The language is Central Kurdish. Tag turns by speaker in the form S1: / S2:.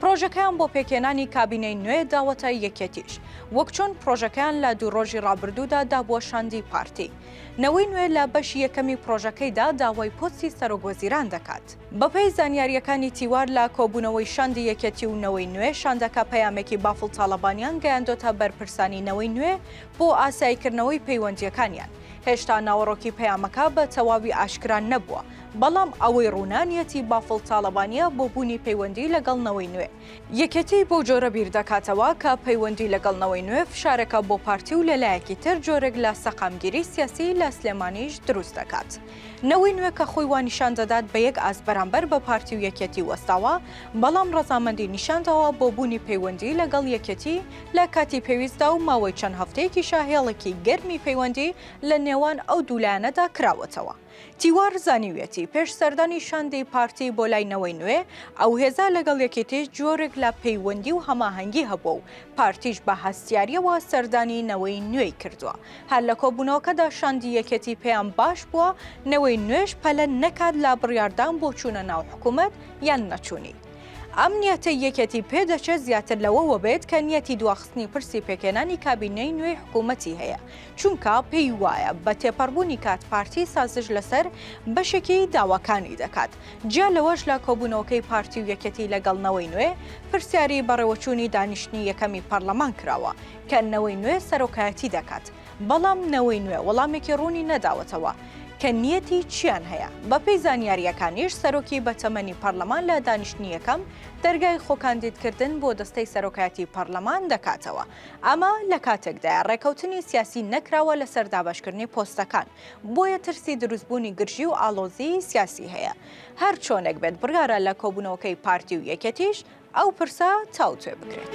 S1: پڕۆژەکەیان بۆ پێکهێنانی کابینەی نوێ داوەتە یەکێتیش، وەک چۆن پڕۆژەکەیان لە دوو ڕۆژی ڕابردوودا دابووە شاندی پارتی. نەوەی نوێ لە بەشی یەکەمی پڕۆژەکەیدا داوای پۆستی سەرۆکوەزیران دەکات. بەپێی زانیارییەکانی تیوار لە کۆبوونەوەی شاندی یەکێتی و نەوەی نوێ، شاندەکە پەیامێکی بافڵ تاڵەبانیان گەیاندۆتە بەرپرسانی نەوەی نوێ بۆ ئاساییکردنەوەی پەیوەندییەکانیان. هێشتا ناوەڕۆکی پەیامەکە بە تەواوی ئاشکرا نەبووە، بەڵام ئەوەی ڕوونە نیەتی بافڵ تاڵەبانییە بۆ بوونی پەیوەندی لەگەڵ نەوەی نوێ. یەکێتی بەو جۆرە بیر دەکاتەوە کە پەیوەندی لەگەڵ نەوەی نوێ فشارێکە بۆ پارتی و لە لایەکی تر جۆرێک لە سەقامگیری سیاسی لە سلێمانیش دروست دەکات. نەوەی نوێ کە خۆی وا نیشان دەدات بە یەک ئاست بەرامبەر بە پارتی و یەکێتی وەستاوە، بەڵام ڕەزامەندی نیشان داوە بۆ بوونی پەیوەندی لەگەڵ یەکێتی، لە کاتی پێویستدا و ماوەی چەند هەفتەیەکیشە هێڵێکی گەرمی پەیوەندی لە نێوان ئەو دوو لایەنەدا کراوەتەوە. تیوار زانیویەتی، پێش سەردانی شاندی پارتی بۆ لای نەوەی نوێ، ئەو هێزە لەگەڵ یەکێتی جۆرێک لە پەیوەندی و هەماهەنگی هەبووە و پارتیش بە هەستیارییەوە سەردانی نەوەی نوێی کردووە. هەر لە کۆبوونەوەکەدا شاندی یەکێتی پێیان باش بووە نەوەی نوێش پەلە نەکات لە بڕیاردان بۆ چوونە ناو حکوومەت یان نەچوونی. ئەم نیەتەی یەکێتی پێدەچێت زیاتر لەوەوە بێت کە نیەتی دواخستنی پرسی پێکێنانی کابینەی نوێی حکوومەتی هەیە چونکە پێی وایە بە تێپەڕبوونی کات پارتی سازش لەسەر بەشێکی داواکانی دەکات جیا لەوەش لە کۆبوونەوەکەی پارتی و یەکێتی لەگەڵ نەوەی نوێ پرسیاری بەڕێوەچوونی دانیشتنی یەکەمی پەرلەمان کراوە کە نەوەی نوێ سەرۆکایەتی دەکات بەڵام نەوەی نوێ وەڵامێکی ڕوونی نەداوەتەوە کە نیەتی چیان هەیە. بەپێی زانیارییەکانیش سەرۆکی بەتەمەنی پەرلەمان لە دانیشتنی یەکەم دەرگای خۆکاندیدکردن بۆ دەستەی سەرۆکایەتی پەرلەمان دەکاتەوە. ئەمە لە کاتێکدایە ڕێکەوتنی سیاسی نەکراوە لەسەر دابەشکردنی پۆستەکان، بۆیە ترسی دروستبوونی گرژی و ئاڵۆزیی سیاسی هەیە. هەرچۆنێک بێت بڕیارە لە کۆبوونەوەکەی پارتی و یەکێتیش ئەو پرسە تاوتوێ بکرێت.